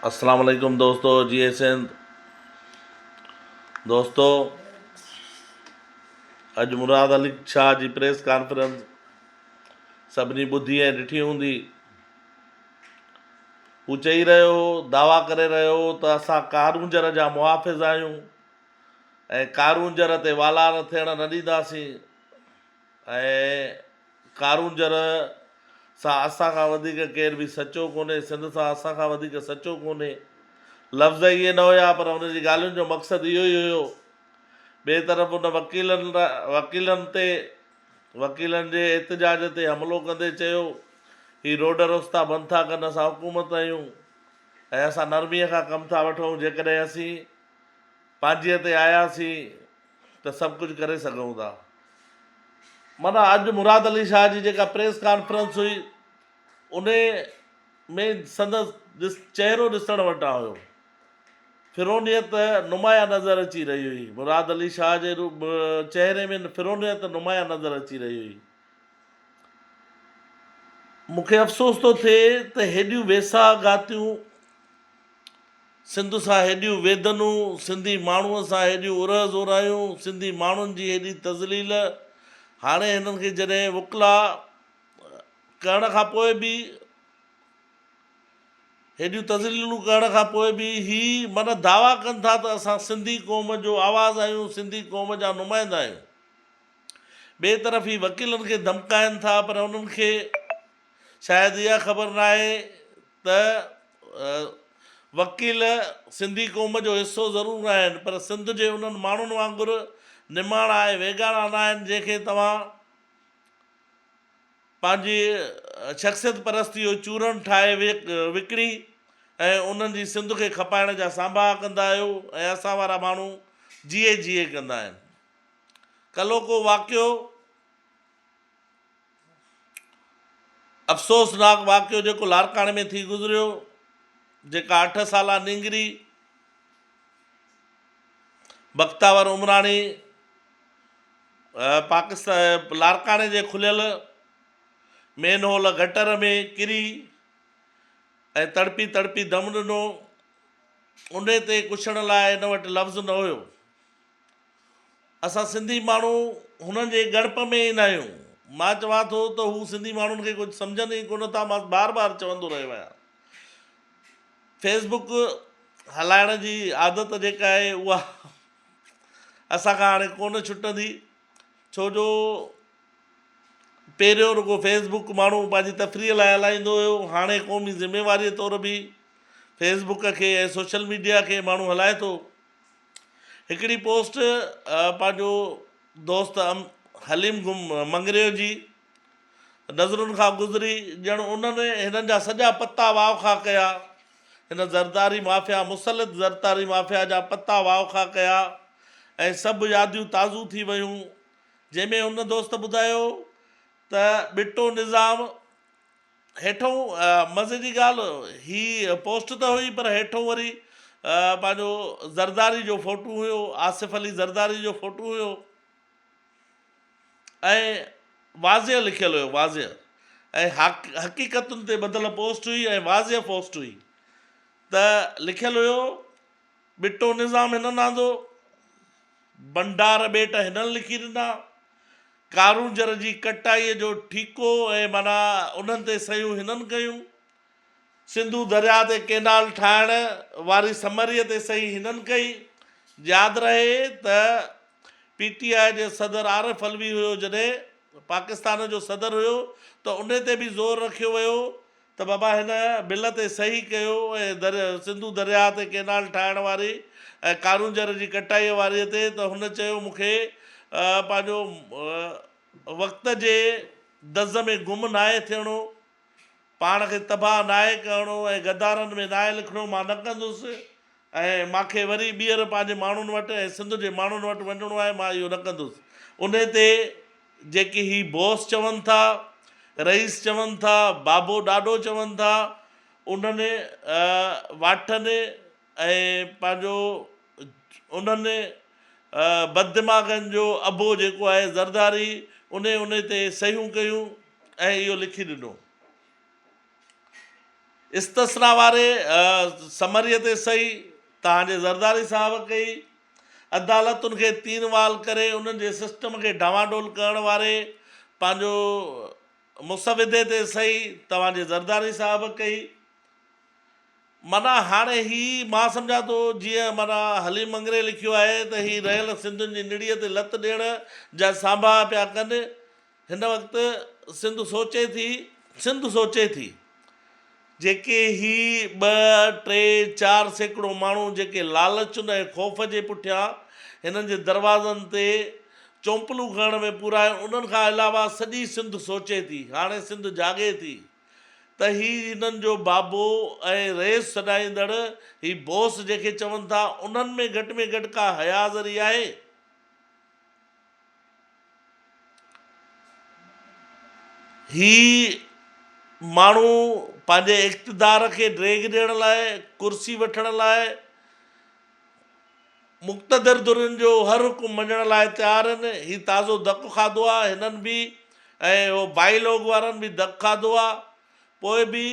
اسلام عليڪم دوستو جي سنڌ دوستو اڄ مراد علي شاھ جي پريس ڪانفرنس سڀني ٻڌي ۽ ڏٺي هوندي هو چئي رهيو هو دعويٰ ڪري رهيو هو ته اسان ڪارونجهر جا محافظ آهيون ۽ ڪارونجهر تي والار ٿيڻ نه ڏينداسين ۽ ڪارون جر سان اسان کان وڌيڪ ڪير به سچو ڪونهي، سنڌ سان اسان کان وڌيڪ سچو ڪونهي. لفظ اهي نه هيا پر هن جي ڳالهين جو مقصد اهو ئي هيو. ٻئي طرف هن وڪيلن وڪيلن تي وڪيلن جي احتجاج تي حملو ڪندي چيو هي روڊ رستا بند ٿا ڪن اسان حڪومت آهيون ۽ اسان نرمي کان ڪم ٿا وٺون جيڪڏهن اسين پانجي تي آياسين ته سڀ ڪجهه ڪري سگهون ٿا. معنيٰ اڄ مراد علي شاهه جي جيڪا پريس ڪانفرنس هئي انهي ۾ سندس چهرو ڏسڻ وٽان هيو. فرعونيت نمايان نظر اچي رهي هئي. مراد علي شاهه جي چهري ۾ فرعونيت نمايان نظر اچي رهي هئي. مون کي افسوس ٿو ٿئي ته هيڏيون ويساهه گهاتيون. سنڌ سان هيڏيون ويڌنون، سنڌي ماڻهوء سان هيڏيون ارهه زورايون، سنڌي ماڻهن جي هيڏي تذليل، هاڻي هنن کي جڏهن وڪلا ڪهڻ کان پوء به هيڏيون تذليلون ڪهڻ کان پوء به هي من دعويٰ ڪن ٿا ته اسان سنڌي قوم جو آواز آهيون، سنڌي قوم جا نمائندا آهيون. ٻئي طرف هي وڪيلن کي ڌمڪائين ٿا پر انهن کي. شايد اها خبر ناهي ته وڪيل سنڌي قوم جو حصو ضرور آهن پر سنڌ جي انهن ماڻهن وانگر نماڻا ۽ ويڳاڻا ناهن جنهن کي توهان پنهنجي شخصيت پرستي جو چورڻ ٺاهي وڪڻي ۽ انهن جي سنڌ کي کپائڻ جا سانباها ڪندا آهيو ۽ اسان وارا ماڻهو جيئي جيئي ڪندا آهن. ڪلهوڪو واقعو. افسوسناڪ واقعو جيڪو لاڙڪاڻي ۾ ٿي گذريو جيڪا اٺ سالا نينگري بختاور عمراڻي پاڪستان لاڙڪاڻي جي کليل مين هول گٽر ۾ ڪري ۽ تڙپي تڙپي دم ڏنو ان تي ڪڇڻ لاء هن وٽ لفظ نه هيو اسان سنڌي ماڻهو هنن جي ڳڻپ ۾ ئي ناهيون. مان چوان ٿو ته هو سنڌي ماڻهن کي ڪجهه سمجهن ئي ڪونه ٿا مان بار بار چوندو رهيو آهيان. فيس بڪ هلائڻ جي عادت جيڪا آهي اها اسان کان هاڻي ڪونه ڇٽندي ڇو جو پهريون رڳو فيس بڪ ماڻهو پنهنجي تفريح لاء هلائيندو هيو هاڻي قومي ذميواري طور به فيس بڪ کي ۽ سوشل ميڊيا کي ماڻهو هلائي ٿو. هڪڙي پوسٽ پنهنجو دوست حليم گم مڱريو جي نظرن کان گذري ڄڻ انهن ئي هنن جا سڄا پتا واء کاء ڪيا. هن زرداري مافيا مسلط زرتاري مافيا جا پتا واء کاء ڪيا ۽ سڀ ياديون تازو ٿي ويون جنهن ۾ هن دوست ٻڌايو ته ٻٽو نظام، هيٺون مزي جي ڳالهه هي پوسٽ ته هئي پر هيٺون وري پنهنجو زرداري جو فوٽو هيو آصف علي زرداري جو فوٽو هيو ۽ واضح لکيل هيو واضح ۽ حقيقتن تي ٻڌل پوسٽ هئي ۽ واضح پوسٽ هئي ته لکيل هيو ٻٽو نظام هنن آندو، ڀنڊار ٻيٽ هنن لکي ڏنا، ڪارونجهر جي ڪٽائيء جو ٺيڪو ۽ معنيٰ انهن تي صحيحون هنن ڪيون، سنڌو درياء تي ڪئنال ٺاهڻ واري سمريء تي صحيح هنن ڪئي. ياد رهي ته پي ٽي آء جي صدر عارف علوي هيو جڏهن پاڪستان جو صدر هيو ته انهي تي به زور رکيو ويو ته بابا هن بل تي صحيح ڪيو ۽ در سنڌو درياهه تي ڪينال ٺاهڻ واري ۽ ڪارونجهر جي ڪٽائيء واريء تي ته هن چيو مون کي پنهنجو وقت جي دز ۾ گم ناهي ٿيڻو، پاڻ کي تباهه ناهي ڪرڻو ۽ غدارن ۾ ناهي لکڻو، مان نه ڪندس، ۽ مان کي وري ٻيهر پنهنجي ماڻهن وٽ ۽ سنڌ جي ماڻهن وٽ وڃڻو آهي، مان اهو نه ڪندس. انهي تي جيڪي هي بوس چون ٿا، رئيس چون ٿا، بابو ڏاڏو چون ٿا، انهن واٺن ۽ پنهنجو انهن بددماغن جو ابو جيڪو آهي زرداري، انهي انهي تي صحيحون ڪيون ۽ اهو لکي ڏنو. استثنا واري سمري تي صحيح توهان جي زرداري صاحب ڪئي. عدالتن کي تين وال ڪري انهن جي سسٽم کي ڊانوا ڊول ڪرڻ واري پنهنجو مسودي تي صحيح توهان جي زرداري صاحب ڪئي. معنيٰ هاڻي هي مان سمجهان ٿو جيئن معنيٰ حليم مڱري لکيو آهي ته هي رهيل سنڌين جي نڙيء تي لت ڏيڻ جا سانڀاها پيا ڪن. هن وقت سنڌ سوچي ٿي، سنڌ سوچي ٿي، جيڪي هي ٻه، ٽي، چار سيڪڙو ماڻهو جيڪي لالچ ۽ خوف جي پٺيان هنن جي دروازن تي چونپلون کڻڻ ۾ پورا آهن انهن کان علاوه سڄي سنڌ سوچي ٿي، هاڻي سنڌ جاڳي ٿي ته هي هنن جو بابو ۽ رئيس سڏائيندڙ هي بوس جنهن کي چون ٿا انهن ۾ گهٽ ۾ گهٽ ڪا حيا ذري آهي؟ هي ماڻهو پنهنجي اقتدار کي ڊيگهه ڏيڻ لاء، ڪرسي وٺڻ لاء، مقتدر ڌرين جو هر حڪم مڃڻ لاء تيار آهن. هي تازو ڌڪ کاڌو آهي هنن به ۽ اهو بائي لوگ وارن به ڌڪ کاڌو آهي پوء به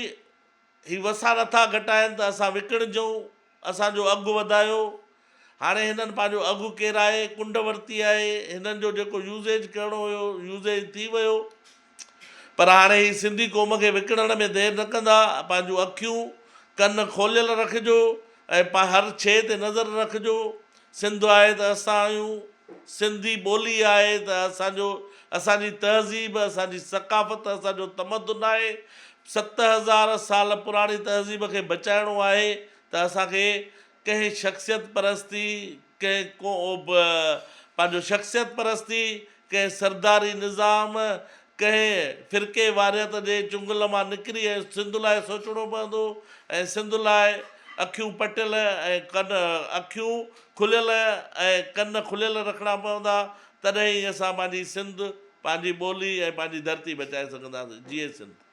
هي وسا نٿا گهٽائين ته اسان وڪڻجون، اسان جو اگهه وڌايو، هاڻي هنن پنهنجو اگهه ڪيرائي ڪنڊ ورتي آهي، هنن جو جيڪو يوزيج ڪرڻو هيو، يوزيج ٿي ويو، پر هاڻي هي سنڌي قوم کي وڪڻڻ ۾ دير نه ڪندا، پنهنجون اکيون، ڪن کوليل رکجو ۽ هر شيء تي نظر رکجو. سنڌ آهي ته اسان آهيون، سنڌي ٻولي آهي ته اسان جو، اسان جي تهذيب، اسان جي ثقافت، اسان جو تمدن آهي. ست هزار سال پراڻي تهذيب کي بچائڻو آهي ته اسان کي ڪنهن شخصيت پرستي، ڪنهن ڪو به پنهنجو شخصيت پرستي ڪنهن سرداري نظام، ڪنهن فرقي واريت جي چنگل مان نڪري ۽ سنڌ لاء سوچڻو پوندو ۽ سنڌ لاء اکيون پٽيل ۽ ڪن اکيون کليل ۽ ڪن کليل رکڻا پوندا، تڏهن ئي اسان پنهنجي سنڌ، پنهنجي ٻولي ۽ پنهنجي ڌرتي بچائي سگهنداسين. جيئي سنڌ!